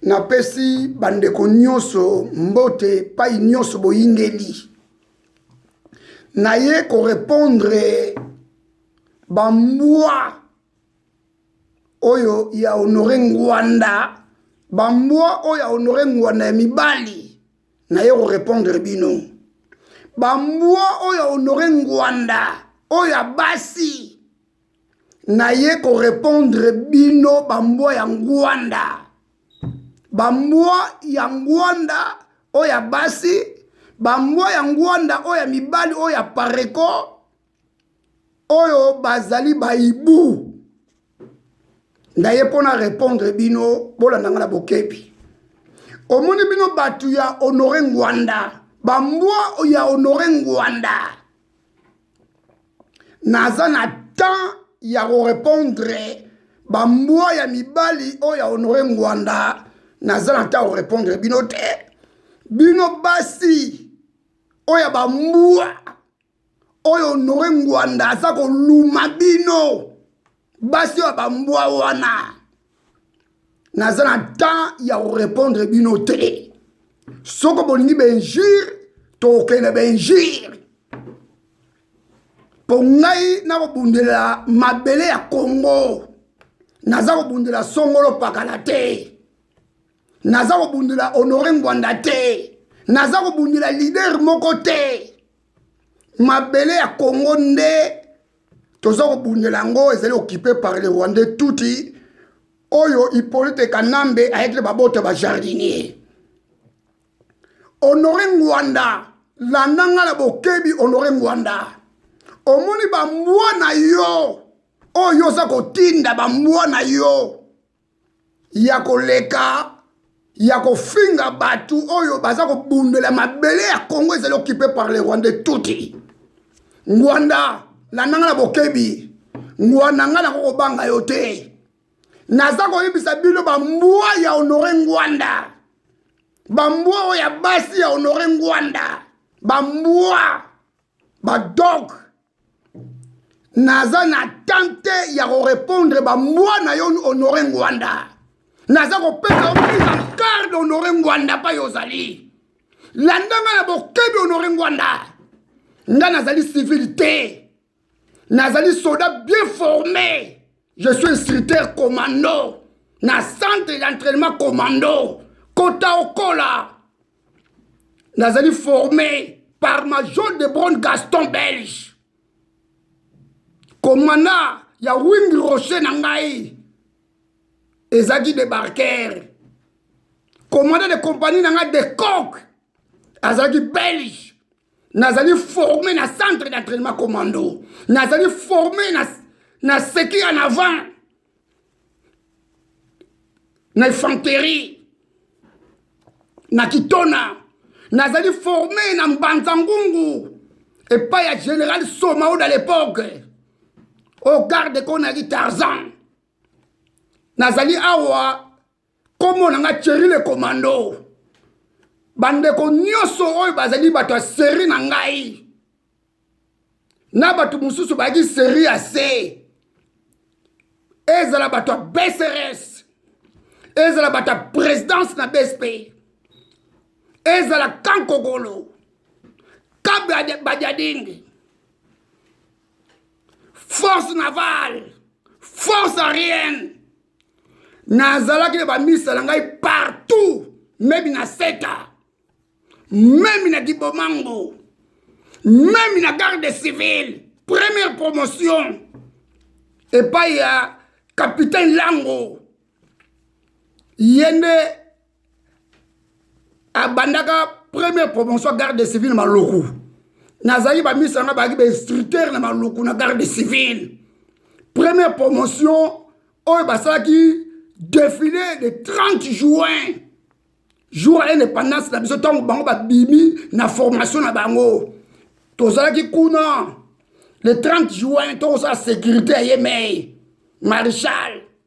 Napesi bandeko nyonso mbote epai nyonso boyingeli. Naye korepondre bambwa oyo ya Honore Ngwanda, bambwa oyo ya Honore Ngwanda ya mibali, naye korepondre bino. Bambwa oyo ya Honore Ngwanda oyo ya basi naye ko repondre bino bambwa ya ngwanda bambwa ya ngwanda oyo ya basi bambwa ya ngwanda oyo ya mibali oyo ya pareko oyo bazali baibu naye mpo na repondre bino bolanda ngai na bokebi omoni bino bato ya honore ngwanda bambwa ya honore ngwanda naza na temps ya korepondre bambwa ya mibali oyo ya honore ngwanda naza na temps ya korepondre bino te bino basi oyo ya bambwa oyo honore ngwanda aza koluma bino basi oyo bambwa wana naza na temps ya korepondre bino te soko bolingi bainjure tokokende bainjure mpo ngai nakobundela mabele ya kongo naza kobundela songolo pakala te naza kobundela honore ngwanda te naza kobundela lider moko te mabele ya kongo nde toza kobundela yango ezali okipe par le rwandais tuti oyo hippolyte kanambe ayaki na babota bajardinier honore ngwanda landa nga na bokebi honore ngwanda omoni bambwa na yo oyo oza kotinda bambwa na yo ya koleka ya kofinga bato oyo baza kobundela mabele ya congo ezali okipe par le rwandais tuti ngwanda landa nga na bokebi ngwanda nga nako kobanga yo te naza koyebisa bino bambwa ya honore ngwanda bambwa oyo ya basi ya honore ngwanda bambwa badog naza na temps te ya korepondre bambwa na yo honore ngwanda naza kopesa yo mise en garde honore ngwanda mpai ozali landa ngai na bokebi honore ngwanda ngai nazali civile te nazali soda bien forme je suis instructeur commando na centre d'entraînement commando kota okola nazali formé par major de bron gaston belge komanda ya wing rocher na ngai ezalaki debarquer komanda de compagnie na ngai de coke azalaki belge nazali forme na centre d'entraînement commando nazali forme na, na seki en avant na infanterie na kitona nazali forme na mbanza ngungu epai ya général somao da l'époque oyo garde ko nayaki tarzan nazali awa nkombo na ngai cheri le commando bandeko nyonso oyo bazali bato ya seri na ngai na bato mosusu bayaki seri ya se ezala bato ya bcrs ezala bato ya présidence na bsp ezala kankokolo kabadiadingi force navale force aérienne nazalaki na bamisa na ngai partout meme na seta meme na kibomango meme na garde civile première promotion epai ya capitaine lango ye nde abandaka première promotion ya garde civile na maloku nazalaki bamisa nanga bazalaki bainstructeur na maloku na garde civile première promotion oyo basalaki défilé de 30 juin jour ya indépendance na biso ntango bango babimi na formation na bango tozalaki kuna le 30 juin tokosala sécurité ya yemei marechal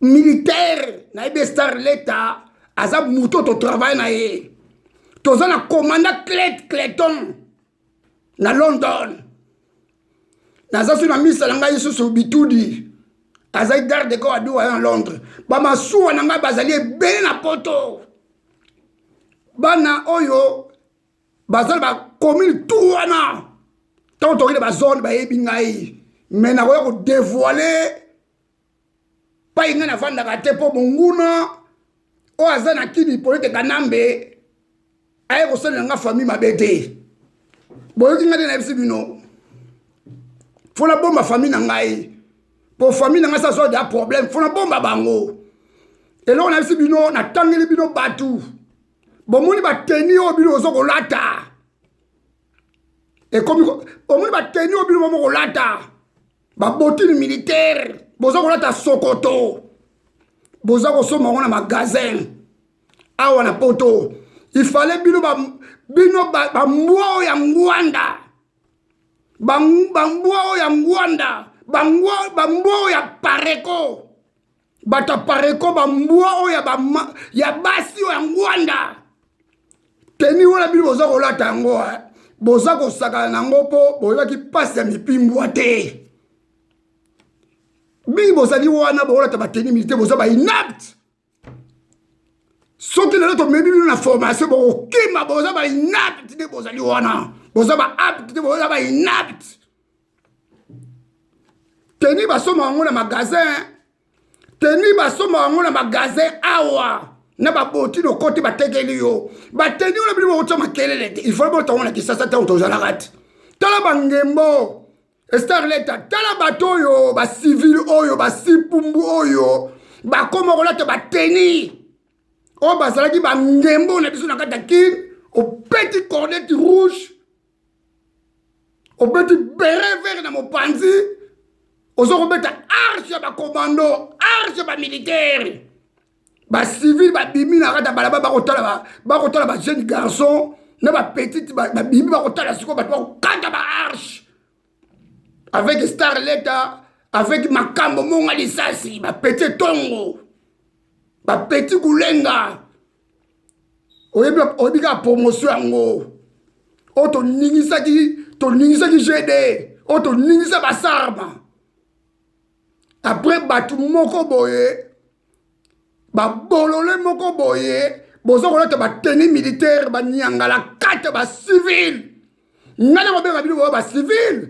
militaire na ebe star leta aza moto to travail na ye toza na commanda clet cleton na london naza so na misa na ngai lisusu bitudi azali garde de corps aduwa ya na londres bamasuwa na ngai bazali ebele na poto bana oyo bazali bakomine tu wana ntango tokende bazone bayebi ngai me nakoya kodevoile pai ngai nafandaka te mpo monguna oyo aza na kini polete kanambe aye kosalela nga famille mabe te boyoki ngai te nayebisi bino fo nabomba famille na ngai mpo famille na ngai sa zwa da problème fo nabomba bango eloko nayebisi bino natangeli bino bato bomoni bateni oyo bino ozo kolata ekomi omoni bateni oyo bino bomo kolata babotini militaire boza kolata sokoto boza kosomba yango na magasin awa na poto ifale bino ba, bino bambwa ba oyo ya ngwanda bambwa oyo ya ngwanda bambwa oyo ya pareko bato ya pareko bambwa oyo ya, ba, ya basi oyo ya ngwanda teni wana bino boza kolata yango eh. boza kosakana na yango mpo boyebaki mpasi ya mipimbwa te bino bozali wana bokolata bateni milite boza bainapte soki lelo tomemi bino na formation bokokima boza bainapte nde bozali wana boza baapte te boza bainapte teni basomba yango na magasin teni basomba yango na magasin awa na baboti lokoti batekeli yo bateni wana bino bokotya makelele te ifo botango na kisasa ntango tozalaka te tala bangembo starleta tala bato oyo basivile oyo basipumbu oyo bakoma kolata bateni oyo bazalaki bangembo na biso na kati ya kine opeti cornete rouge obeti bere vere na mopanzi oza kobeta arche ya bakomando arche ya bamilitaire bacivile babimi na kati ya balabala bakotala bakotala bajeune garçon na bapetite babimi bakotala sikoyo bato bakokata baarche avec star leta avec makambo monga lisasi bapeti etongo bapeti kulenga oyebi oyebi kaka promotion yango oyo toningisaki toningisaki gd oyo toningisa basarma apres bato moko boye babolole moko boye boza kolata bateni militaire baniangala kate bacivile ngai na kobenga bino boyo bacivile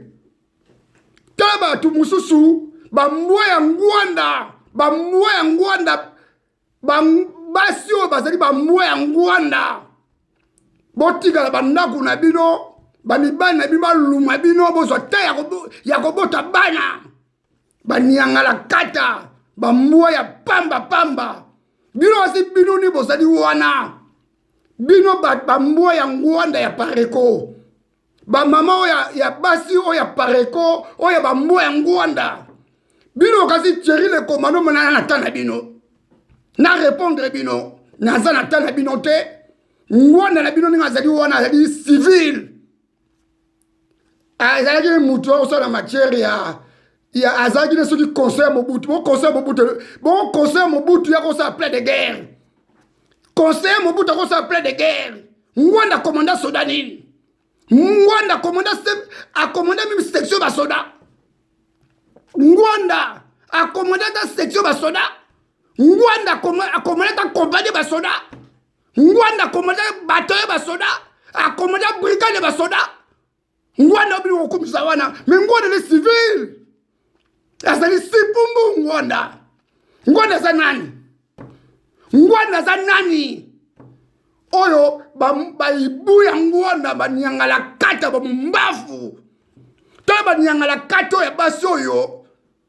te bato mosusu bambwa ya ngwanda bambwa ya ngwanda basi oyo bazali bambwa ya ngwanda botikala bandako na bino bamibali na bino baluma bino bozwa te ya kobota bana baniangala kata bambwa ya pamba pamba bino basi bino ni bozali wana bino bambwa ya ngwanda ya pareko bamama oyo ya basi oyo ya pareko oyo ya bambwa ya ngwanda bino kasi tieri le komando monana na ta na bino na repondre bino naza na ta na bino te ngwanda na bino ndenge azali wana azali civile azalaki motu akosala matière ya ya azalaki na soki conseil ya mobutu boconseil ya mobutu boconseil ya mobutu ya kosala plein de guerre conseiller mobutu akosala plein de guerre ngwanda commanda soda nini ngwanda commanda akomanda meme section basoda ngwanda akomanda ata section basoda ngwanda akomanda ata compagnie basoda ngwanda akomanda bato ya basoda akomanda brigade ya basoda ngwanda obili kokumisa wana me ngwanda le civil azali sipumbu ngwanda ngwanda aza nani ngwanda aza nani oyo baibu ya ngwanda baniangala kata bamumbafu to baniangala kata oyo ya basi oyo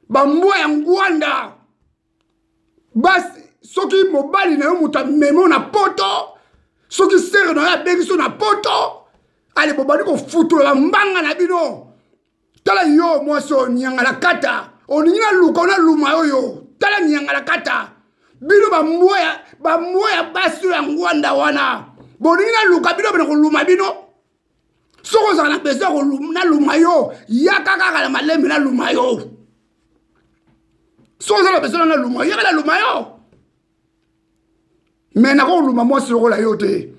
bambwa ya ngwanda basi soki mobali na yo moto amemo na poto soki sere na yo abengi so na poto ale bobandi kofutolola mbanga na bino tala yo mwasi oyo nyangalakata olingi naluka onaluma oyo tala nyangalakata bino bambwa ya basi oyo ya ngwanda wana bolingi naluka bino bana koluma bino soki ozala na besoin naluma yo yaka kaka na malembe naluma yo soki oza na besoin naluma yo yaka naluma yo me nakoluma mwasi lokola yo te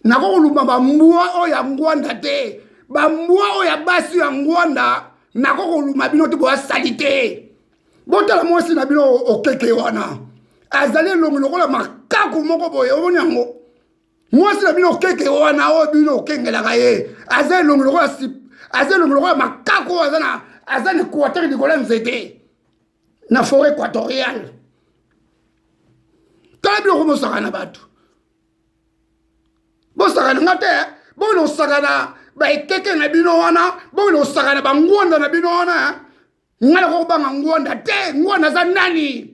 nakokoluma bambwa oyo ya ngwanda te bambwa oyo ya basi ya ngwanda nakokoluma bino te boya sali te botala mwasi na bino okeke wana azali elongi lokola makaku moko boye omoni yango mwasi na bino keke wana oyo bino okengelaka ye aza elongi lokola aza elongi lokola makako oyo aza na aza na equateur likolo ya nzete na foret équatoriale tala biloko bosaka na bato bosaka na nga te bokende kosaka na baekeke na bino wana bokende kosaka na bangwanda na bino wana ngai nakokobanga ngwanda te ngwanda aza nani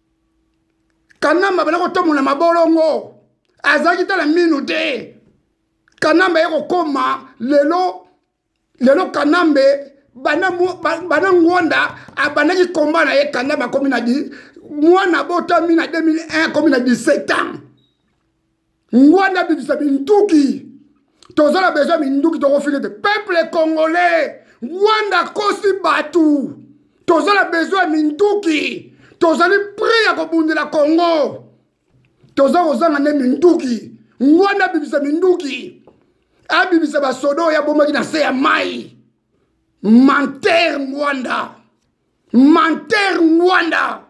kanamba abanda kotambola mabolongo azalaki tala minu te kanamba ye kokoma lelo lelo kanambe bana ngwanda abandaki komba na ye kanamba akomi na mwana abotami na 2001 akomi na 17 ans ngwanda bimisa binduki toza na besoin minduki tokofini te peuple congolais ngwanda akosi bato toza na besoin minduki tozali prix ya kobundela congo toza kozanga nde minduki ngwanda abimisa minduki abimisa basoda oyo abomaki na se ya mai manter ngwanda manter ngwanda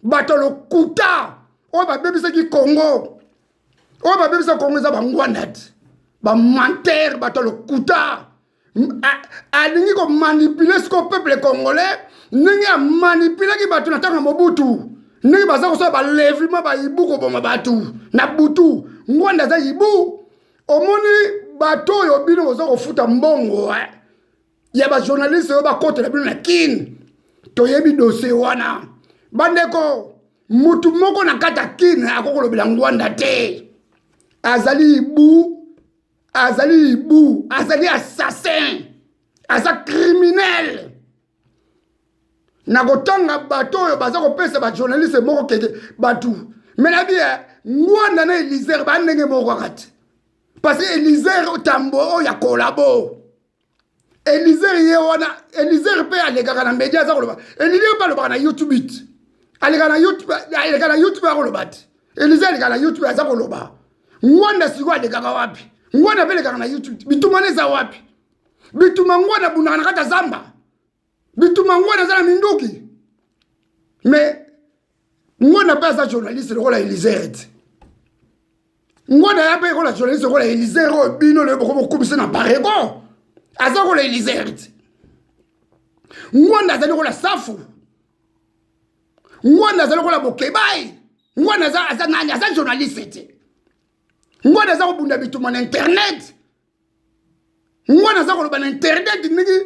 bato lokuta oyo babebisaki congo oyo babebisa congo eza bangwanda te bamantere bato lokuta alingi komanipule siko peuple congolais ndenge amanipulaki bato na ntango ya mobutu ndenge baza kosala balevima bayibu koboma bato na butu ngwanda aza yibu omoni bato oyo bino boza kofuta mbongo eh? ya ba journaliste oyo bakotela bino na kin toyebi dosie wana bandeko mutu moko na kati ya kin akoki kolobela ngwanda te azali ibu azali ibu azali assassin aza criminel na kotanga bato oyo baza kopesa bajournaliste moko keke bato me na bie eh, ngwanda na elisere baa ndenge moko kaka te parce que elisere tambo oyo ya kolabo elizer ye wana elizer mpe alekaka na media aza koloba elizer mpe alobaka na youtube it aleka na youtube aleka na youtube akoloba te elizer aleka na youtube aza koloba ngwanda sikoyo alekaka wapi ngwanda mpe elekaka na youtube bituma wana eza wapi bituma ngwanda abundaka na kati ya zamba bituma ngwana aza na minduki mais ngwana mpe aza journaliste lokola elizer te ngwana ya mpe ekola journaliste lokola elizer oyo bino lelo boko bokumisa na barego aza kola elizer te ngwana azali kola safu ngwana azali kola bokebai ngwana aza nani aza journaliste te ngwana aza kobunda bituma na internet nga naza koloba na internet ndenge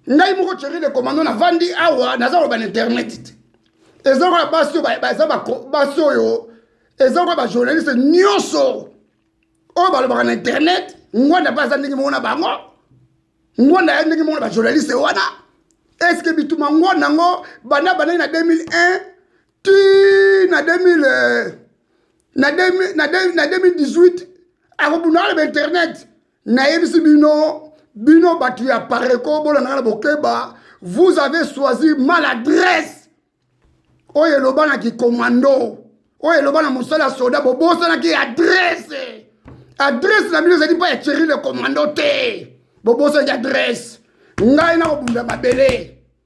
ngai moko chéri de commando navandi awa naza koloba na internet te eza lokola basi oyo baza basi oyo eza lokola bajournaliste nyonso oyo balobaka na internet ngwanda mpe aza ndenge moko na bango ngwanda ya ndenge moko na bajournaliste wana eske bituma ngwanda yango banda bandaki na 2001 ti na 2000 na 2018 akobunda na bainternet nayebisi bino bino bato ya pareko bolandaka na bokeba vous avez choisi maladresse oyo eloba na kikomando oyo eloba na mosala ya soda bobosanaki adresse adresse na bino ezali mpo ya cheri le komando te bobosanaki adresse ngai nakobunda mabele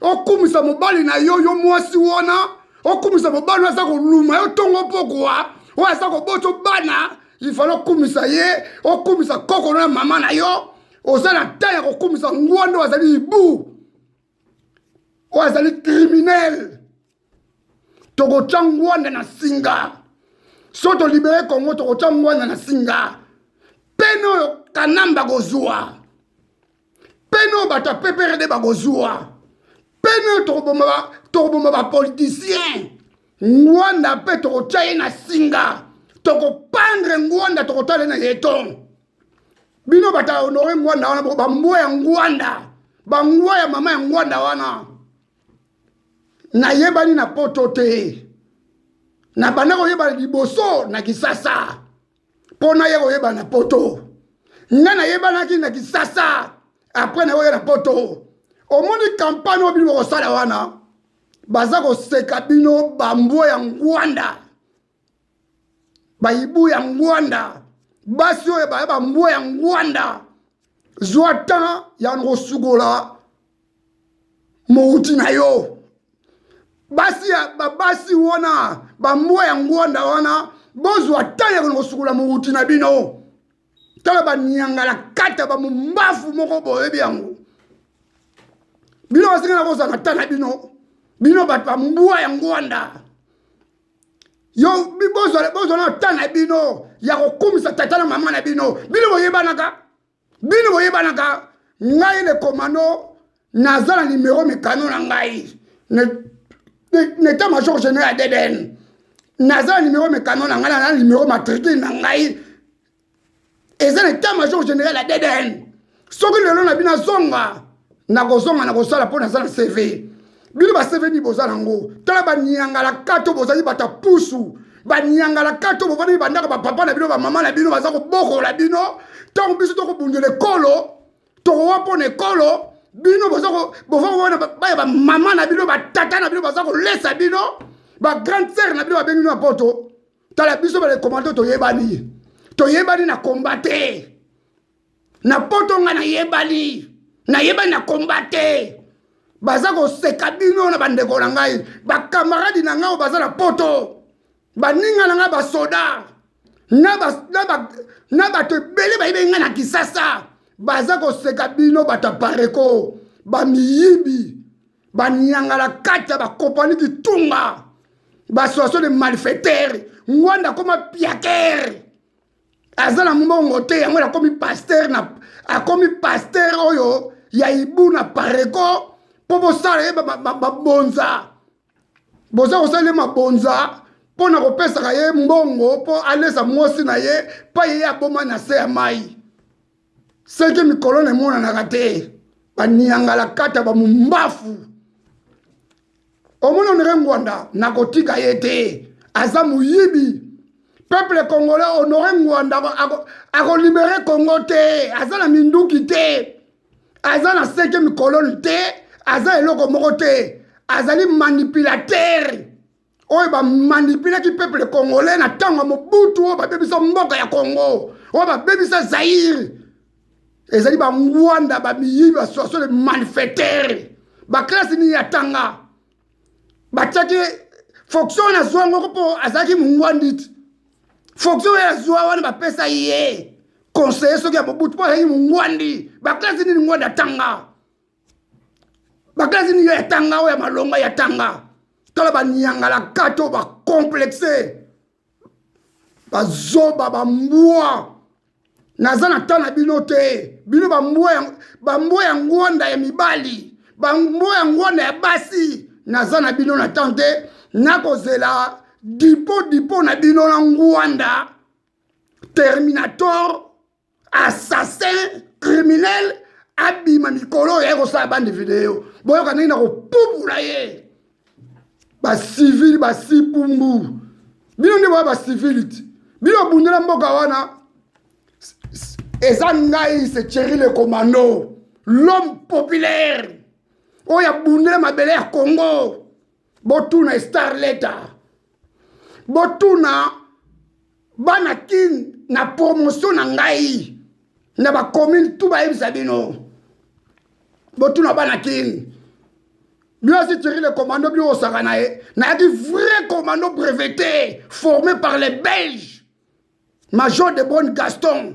okumisa mobali na yo yo mwasi wana okumisa mobali aza koluma yo ntongo pokwa oyo aza koboto bana ifale okumisa ye okumisa koko na mama na yo oza na ntan ya kokumisa ngwanda oyo azali ibu oyo azali kriminele tokotya ngwanda na singa so tolibere kongo tokotya ngwanda na singa pene oyo kanamba kozwa peno bato ya pprd bakozwa peno tokoboma bapolitisien ngwanda mpe tokotya ye na singa tokopandre ngwanda tokotala ye na yeton bino bato ya honore ngwanda wana bambwa ya ngwanda bangwa ya mama ya ngwanda wana nayebani na poto te nabanda koyebana liboso na kisasa mpo naye koyeba na poto nga nayebanaki na kisasa apres nayoya na poto omoni kampane oyo bino bokosala wana baza koseka bino bambwa ya ngwanda bayibu ya ngwanda basi oyo baya bambwa ya ngwanda zwa temps ya kosukola mouti na yo basi ya babasi wana bambwa ya ngwanda wana bozwa tani ya kona kosukola mouti na bino tala baniangala kata bamombafu moko boyebi yango bino basenga na kozala na ta na bino bino bato ya mbwa ya ngwanda yo bozwa na ta na bino ya kokumisa tata na mama na bino bino boyebanaka bino boyebanaka ngai le commando naza na nimero mikano na ngai neta major general ya deden naza na nimero mikano na ngai na nimero matricule na ngai eza na etat major general ya deden soki lelo na bino azonga nakozonga nakosala mpo naza na cv bino ba cv nini boza nango tala baniangalakata oyo bozali bata pusu baniangalakata oyo bovandaki bandako bapapa na bino bamama na bino baza kobokola bino ntango biso tokobundela ekolo tokowa mpo na ekolo bino bovana baya bamama na bino batata na bino baza kolesa bino bagrande sere na bino babengi bino ya poto tala biso balekomando toyebani toyebani na komba te na poto nga nayebani nayebani na komba te baza koseka bino na bandeko na ngai bakamaradi na ngai oyo baza na poto baninga na ngai basoda na bato ebele bayebeli ngai na kisasa baza koseka bino bato ya pareko bamiyibi baniangala kati ya bakompani kitunga basoation de malfaitere ngwanda akoma piakere aza na mbongo te yango akomi pasteur na akomi pasteur oyo ya ibu na pareko mpo bosala ye mabonza boza kosala ye mabonza mpo na kopesaka ye mbongo mpo alesa mwasi na ye mpa ye aboma na se ya mai seke mikolo na emonanaka te baniangalakata bamumbafu omona onere ngwanda nakotika ye te aza moyibi peuple congolais honore ngwanda akolibere ako congo te aza na minduki te aza na seke mikoloni te aza eloko moko te azali manipulatere oyo bamanipulaki peuple congolais na ntango ya mobutu oyo babebisa mboka ya congo oyo babebisa zaire ezali bangwanda bamiyibi basoso le malfaitere baklase nini atanga batiaki fonction wana azwa ngoko mpo azalaki mongwandi ti fonction oyo azwa wana bapesa ye conseiller soki ya mobutu mpo azalaki mongwandi baklase nini ngwandi atanga bakelasi nini ya tanga oyo ya malonga ya tanga tala baniangala kati oyo bacomplexe bazoba bambwa naza na ntan na bino te bino bambwa ya ngwanda ya mibali bambwa ya ngwanda ya basi naza na bino na ntan te nakozela dipo dipo na bino na ngwanda terminator assassin criminel abima mikolo oyo ayekosala bande video boyoka ndenge na kopupula ye bacivili basipumbu bino nde boya bacivili ti bino obundela mboka wana eza ngai se cheri le commando l'homme populaire oyo abundela mabele ya congo botuna star leta botuna bana kin na promotion na ngai na bacommune tu bayebisa bino botuna bana kin bino asi tiri le commando bino kosaka na ye nayaki vrai commando breveté formé par les belges major de bonne gaston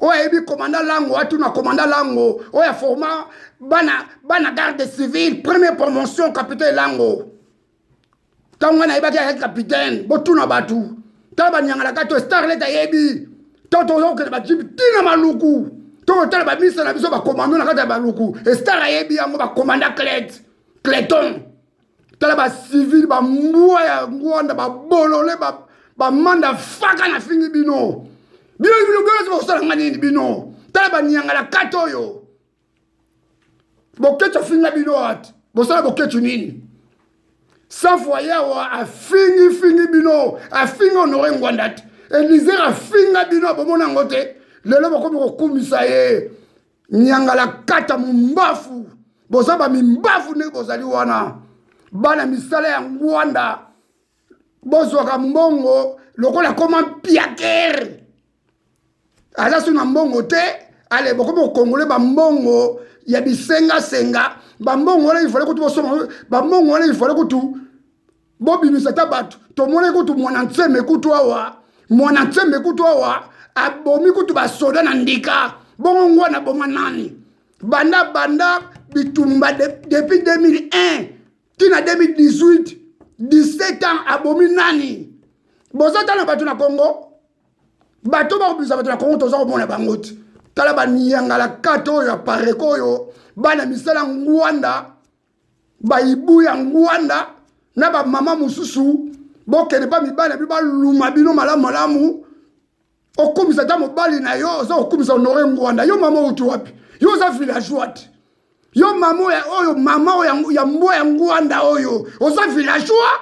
oyo ayebi komanda lango atuna komanda lango oyo aforma bana, bana garde civile première promotion capitaine lango ntango ngai nayebaki ayaki capitaine botuna bato tala banyangalaka to starlet ayebi to toza kokende bajibi ntina maluku to kotala bamisa na biso bakomando na kati ya baluku estar ayebi yango bakomanda clet cleton tala bacivile bambwa ya ngwanda babolole bamanda faka na fingi bino bino bino bino bosala nga nini bino tala banianga na kati oyo boketsu afinga bino ati bosala boketsu nini safu ayawa afingifingi bino afingi honore ngwanda ti elizer afinga bino abomona yango te lelo bakomi kokumisa ye nyangalakata mombafu boza bamimbafu ndenge bozali wana bana misala ya ngwanda bozwaka mbongo lokola koma mpiakere aza so na mbongo te ale bokomi kokongole bambongo ya bisengasenga bambongo wana ifale kutu bosoma bambongo wana ifale kutu bobimisa ata bato tomonaki kutu mwana nseme kutu awa mwana nseme kutu awa abomi kutu basoda na ndika bongo ngwana aboma nani banda banda bitumba depuis 2001 tina 2018 17 ans abomi nani boza tala bato na congo bato bakobimisa bato na congo toza komona bango ti tala baniyangalakata oyo ya pareko oyo bana misala ngwanda bayibu ya ngwanda na bamama mosusu bokende mpa mibali na bino baluma bino malamu malamu okumisa ata mobali na yo oza kokumisa honore ngwanda yo mama outi wapi yo oza villageois te yo mama oyo mama oyo ya mbwa ya ngwanda oyo oza villageois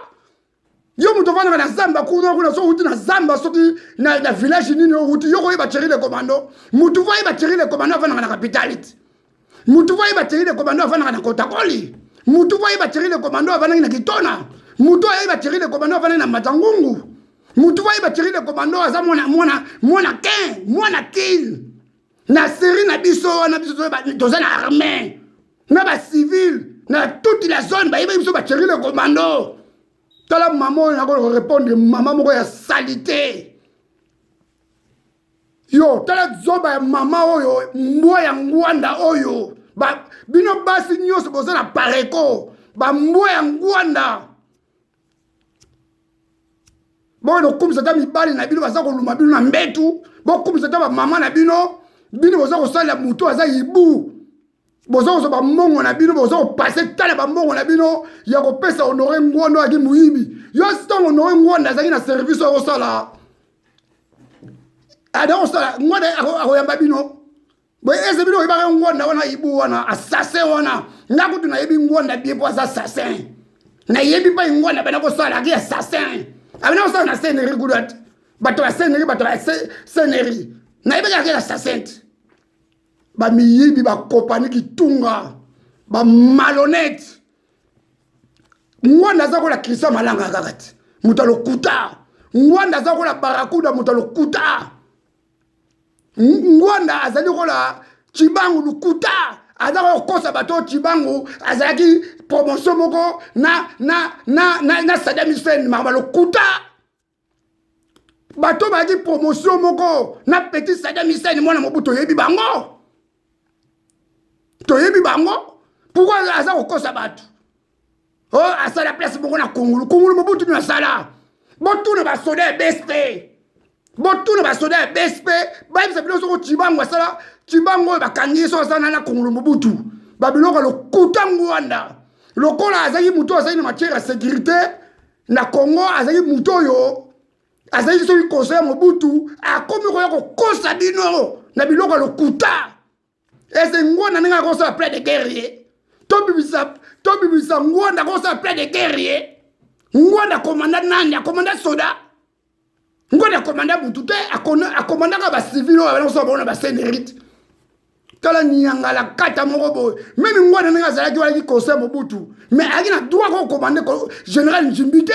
yo moto ofandaka na zamba kuna kuna soki outi na zamba soki na, na village nini outi yo koyeba thierry le commando motu fo ayeba thierry le commando afandaka na capitalite motu fo ayeba thierry le commando afandaka na kotakoli motu fo ayeba thierry le commando afandaki na kitona motu ayeba thierry le commando afandaki na matangungu motu fo ayeba thierry le commando aza mwana mwana mwana kin mwana kin na serie na biso wana biso toza na armée na bacivile na toute la zone bayebaki biso baceri le commando tala mama oyo nakorepondre mama moko ya salite yo tala zoba ya mama oyo mbwa ya ngwanda oyo ba, bino basi nyonso boza na pareko bambwa ya ngwanda bokono kokumisa ata mibali na bino baza koluma bino na mbetu bokokumisa ata bamama na bino bino boza kosalela moto aza ibu boza kozwa bambongo na bino boza kopase tala bambongo na bino ya kopesa honore ngwanda oyaki moyibi yo ntango honore ngwanda azalaki na service oyo akosala ada kosala ngwanda akoyamba bino boye ese bino oyebaka ngwanda wana ibu wana assassin wana nga kutu nayebi ngwanda bie mpo aza assassin nayebi mpai ngwanda bana kosala aki assassin abana kosala na seneri kudu ati bato ya seneri bato ya seneri nayebaki aki assassin te bamiyibi bakopani kitunga bamalonete ngwanda aza kola kristian malanga kaka te moto alokuta ngwanda aza kola barakuda moto alokuta ngwanda azali lokola cibangu lukuta aza kokosa bato oyo cibangu azalaki promotion moko na, na, na, na, na sadam hussein makambo lokuta bato bazalaki promotion moko na petit sadam hussein mwana mobu toyebi bango toyebi bango pourkoi aza kokosa bato o oh, asala place moko na kongulu kongulu mobutu nini asala botuna basoda ya bsp botuna basoda ya bsp bayebisa bino soko cibango asala cibango oyo bakangi ye soko asala nana kongulu mobutu babiloko lokuta ngwanda lokola azalaki moto oyo azalaki na matière ya sécurité na congo azalaki moto oyo azalaki soki conseil ya mobutu akomi koya kokosa bino na biloko ya lokuta ese ngwanda ndenge akosala plein de guerre ye tobimisa tobimisa ngwanda akosala plein de guerre ye ngwanda akomanda nani akomanda soda ngwanda akomanda butu te akomandaka bacivil oyo abana kosala bango na basenerite tala nyangala kata moko boye meme ngwanda ndenge azalaki walaki conseil mobutu mais ayaki na droit kokomande général njimbi te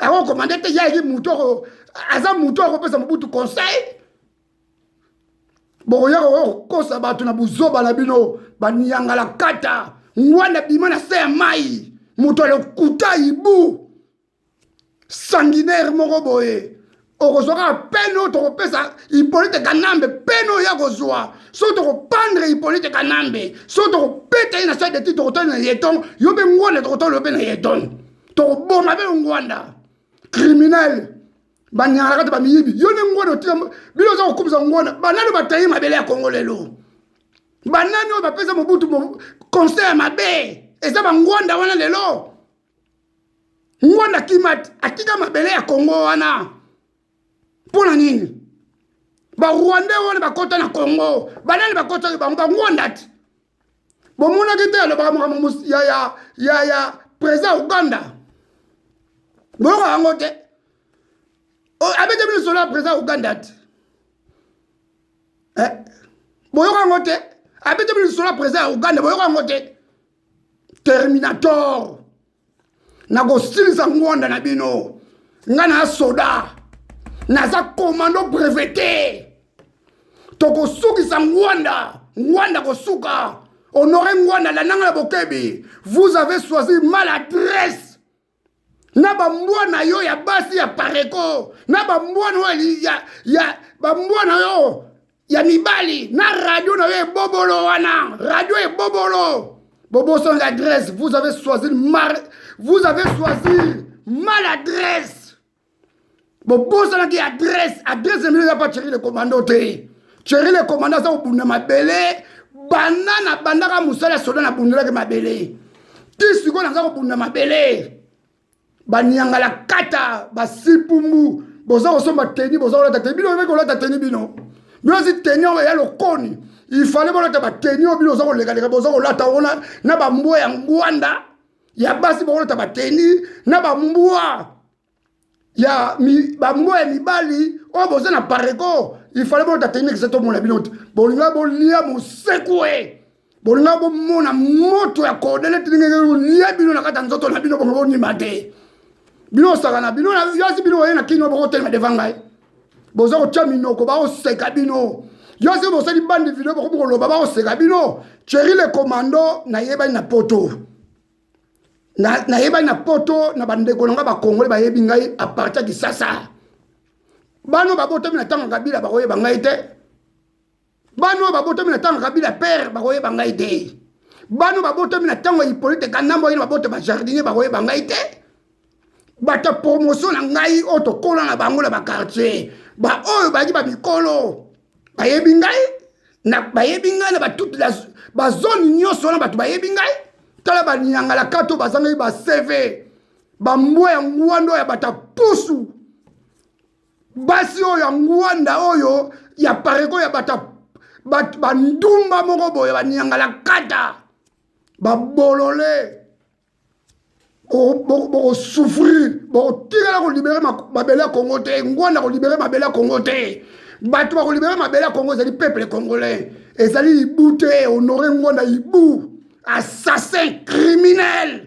Ako commande te yaki mutu ako aza mutu akopesa Mobutu conseil. bokoya kokosa bato na buzoba na bino baniangala kata ngwanda bima na se ya mai moto ya lokuta ibu sanguinaire moko boye okozwa kaka pene oyo tokopesa hipolite kanambe pene oyo akozwa soki tokopandre hipolite kanambe soki tokopeta ye na soi deti tokotoli na yeton yo mpe ngwanda tokotoli yo mpe na yeton tokoboma mpe ngwanda criminel banyangaka te bamiyibi yo nde ngwanda otika bino oza kokumisa ngwanda banani batayi mabele ya kongo lelo banani oyo bapesa mobutu conseil ya mabe eza bangwanda wana lelo ngwanda kima atika mabele ya kongo wana mpo na nini barwande wana bakota na kongo banani bakotaki bango bangwanda ti bomonaki te alobaka makambo ya, ya, ya, ya président uganda boyoka yango te abetami lisolo ya président uganda ti eh, boyoka yango te abetami lisolo ya président ya uganda boyoka yango te terminator nakosilisa ngwanda na bino nga na soda naza komando brevete tokosukisa ngwanda ngwanda kosuka honore ngwanda landanga na bokebi vous avez choisi mal adresse na bambwa na yo ya basi ya pareko na bambwa na yo ya, ya bambwa na yo ya mibali na radio na yo ebobolo wana radio ebobolo bobosani adresse vous avez choisi mar vous avez choisi mal adresse bobosanaki adresse adresse na bino eza pa cheri le commando te cheri le commando aza kobunda mabele banda nabandaka mosala ya soda nabundelaki mabele ti sikoyo naza kobunda mabele baniangala kata basipumbu boza kosomba teni boza kolata teni bino oyebaki kolata teni bino bino ozi teni oyo ya lokoni ifale bolata bateni oyo bino oza kolekaleka boza kolata ona na bambwa ya ngwanda ya basi bakolata bateni na bambwa ya mi, bambwa ya mibali oyo oh, boza na pareko ifale bolata teni kisa tomona bino te bolinga bolia mosekue bolinga bomona moto ya kodele tiningenge olia bino na kati ya nzoto na bino bongo bonima te bino osaka na bino yasi bino oye na kino bokotelema devan ngai boza kotya minoko bakoseka bino yo se bosali bande video bokomi koloba bakoseka bino cheri le commando nayebani na poto nayebani na poto na bandeko na ngai bakongole bayebi ngai aparti ya kisasa bano babotami na ntango ya kabila bakoyeba ngai te bana oyo babotami na ntango kabila pere bakoyeba ngai te bana babotami na ntango ya hipolite kanambo yino baboto bajardinier bakoyeba ngai te bato ya promotion na ngai oyo tokola na bango na bakartier baoyo bayaki bamikolo bayebi ngai bayebi ngai na batute bazone nyonso wana bato bayebi ngai tala banyangalakata oyo bazangaki baseve bambwa ya ngwando ya bato ya pusu basi oyo ya ngwanda oyo ya pareko ya bata bandumba moko boye banyangalakata babolole bokosouffrir bokotikala kolibere mabele ya kongo te ngwanda kolibere mabele ya kongo te bato bakolibere mabele ya kongo ezali peuple congolais ezali ibu te honore ngwanda ibu assassin criminel